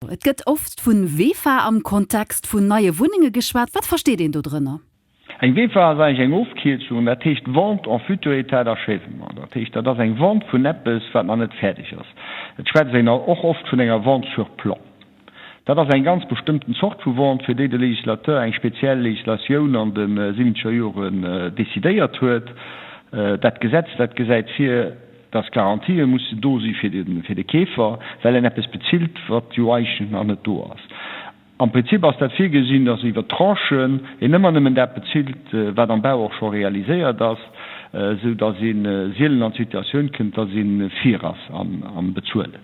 Et gëtt oft vu WEFA am Kontext vun neie Wunnenge geschwat. Wat versteet een do drënner? Eng WEFA ass eigentlech eng Ofkierzung, dat heescht Vente en futur état d'achèvement. Dat heescht, dat ass eng Vente vun eppes, wat nach net fäerdeg ass. Et schwätzt een och oft vun enger Vente sur plan. Dat ass eng ganz bestëmmten Zort vu Vente, fir déi de Législateur eng speziell Législatioun an de siwwenzeger Joren decidéiert huet. Dat Gesetz, dat gesäit vir, dass Garantië mussen do si fir de Keefer, well en eppes bezilt, wat jo eigentlech nach net do ass. Am Prinzip ass dat virgesinn, dass iwwer Tranchen een ëmmer nëmmen dat bezilt, wat am Bau och scho realiséiert ass, esou dass ee sielen an d'Situatioun kënnt, dass ee vir ass am Bezuelen.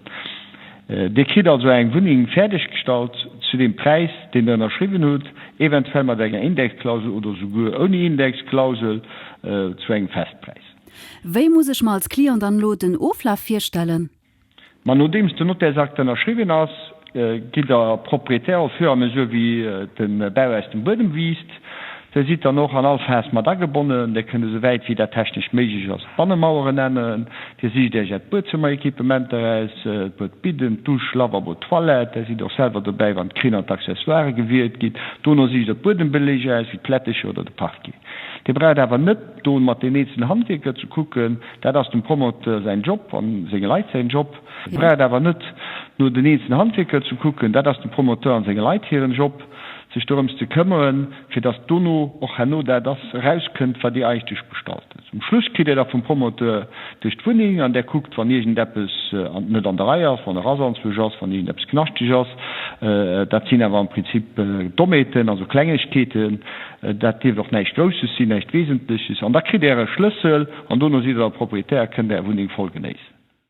Dir kritt also eng Wunneng fäerdeggestallt zu deem Präis, deen Der ënnerschriwwen hutt, eventuell mat enger Indexklausel oder souguer ouni Indexklausel zu engem Festpräis. Wéi muss ech mer als Client dann elo den Oflaf virstellen? Ma nodeems den Notairsakt ënnerschriwwen ass, gitt Der Propriétaire au fur et à mesure wéi de Bau aus dem Buedem wiisst. Der sidd dann och an all Phas mat agebonnen. Der kënnt esou wäit wéi dat technesch méiglech ass d'Bannemaueren änneren. Dir sicht Iech Äert Buedzëmmeréquipement eraus, d'Bued, Bidden, d'Dusch, Lavabo, d'Toilette. Der sidd och selwer dobäi wann d'Krinn an d'Accessoiren gewielt ginn. Dono sicht Der d'Buedembelege aus, wéi d'Plätteche oder de Parquet. Dir braucht awer net. Do mat den eenzelne Handwierker ze kucken, dat ass dem Promoteur säin Job a senge Leit säin Job. Et braucht awer net no den eenzelne Handwierker ze kucken, dat ass dem Promoteur a senge Leit hiren Job, sech dorëms ze këmmeren, fir datt dono och herno dat ass erauskënnt, wat Dir Eischt Iech bestallt hutt. Um Schluss kritt Dir da vum Promoteur duerch d'Wunneng an där kuckt, wann iergendeppes net an der Rei ass, wann e Rasanzuch ass, wann iergendeppes knaschteg ass. Dat sinn awer am Prinzip Dommheeten, also Klengegkeeten. Dat dierft och näischt Grousses sinn, näischt Wesentleches. An da kritt Der e Schlëssel an dono sidd Der Proprietär a kënnt Är Wunneng voll genéissen.